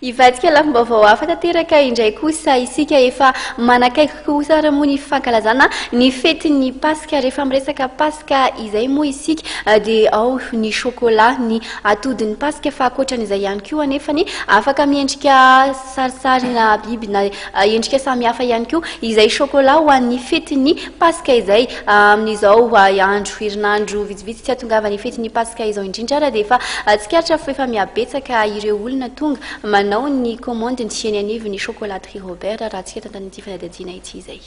Hivadika lafim-baovao hafa tanteraka indray kosa isika. Efa manakaiky kosa ary moa ny fankalazana ny fetin'ny Paska. Rehefa miresaka Paska izay moa isika dia ao ny chocolat, ny atodin'ny Paska fa ankoatran'izay ihany koa anefany afaka miendrika sarisarina biby na. Endrika samihafa ihany koa izay chocolat ho an'ny fetin'ny Paska izay. Amin'izao andro, herinandro vitsivitsy tsy hahatongavan'ny fetin'ny Paska izao indrindra ary dia efa tsikaritra fa efa mihabetsaka ireo olona tonga manao ny komandiny eny anivon'ny Chocolaterie Robert raha antsika tantanin'ity fanadihadiana ity izay.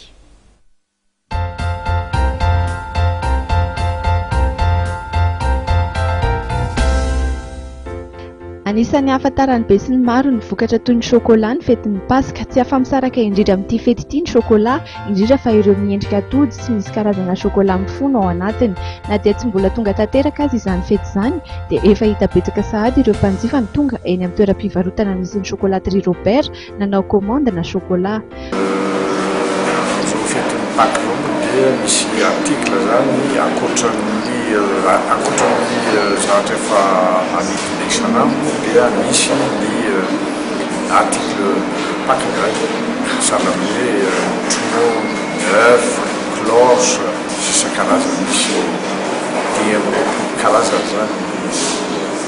Anisan'ny ahafantaran'ny besinimaro ny vokatra toy ny chocolat ny fetin'ny Paska. Tsy afa-misaraka indrindra amin'ity fety ity ny chocolat, indrindra fa ireo miendrika atody sy misy karazana chocolat mifono ao anatiny. Na dia tsy mbola tonga tanteraka aza izany fety izany, dia efa hita betsaka sahady ireo mpanjifa ny tonga eny amin'ny toeram-pivarotana misy ny chocolaterie Robert, nanao commande na chocolat. Amin'izao fetin'ny Paka izao moa dia misy article zany ankoatran'ny ankoatran'ny zavatra efa amidy isan'andro moa dia misy ny article Paka gratuit zany hoe tronau, oeuf, cloche sy isan-karazany misy dimy amby roapolo karazany zany ny.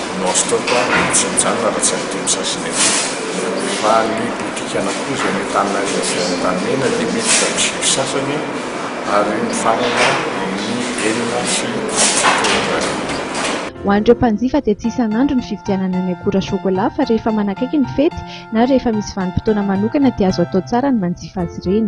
no azo tao fa tsy mijanona raha tsy avy teny Sasinety. Rehefa any Botika Nakoza ny tanana any Asia Antanimena dia miditra ny sivy sasany ary mifarana amin'ny enina sy fitopolo arivo. Ho an'ireo mpanjifa dia tsy isan'andro ny fividianana ny akora chocolat fa rehefa manakaiky ny fety na rehefa misy vanim-potoana manokana dia azo atao tsara ny manjifa azy ireny.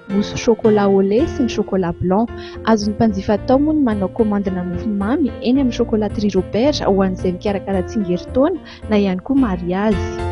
mousse chocolat au lait sy ny chocolat blanc. Azon'ny mpanjifa atao moa ny manao komandina mofo mamy eny amin'ny Chocolaterie Robert ho an'izay mikarakara tsingerintaona na ihany koa mariazy.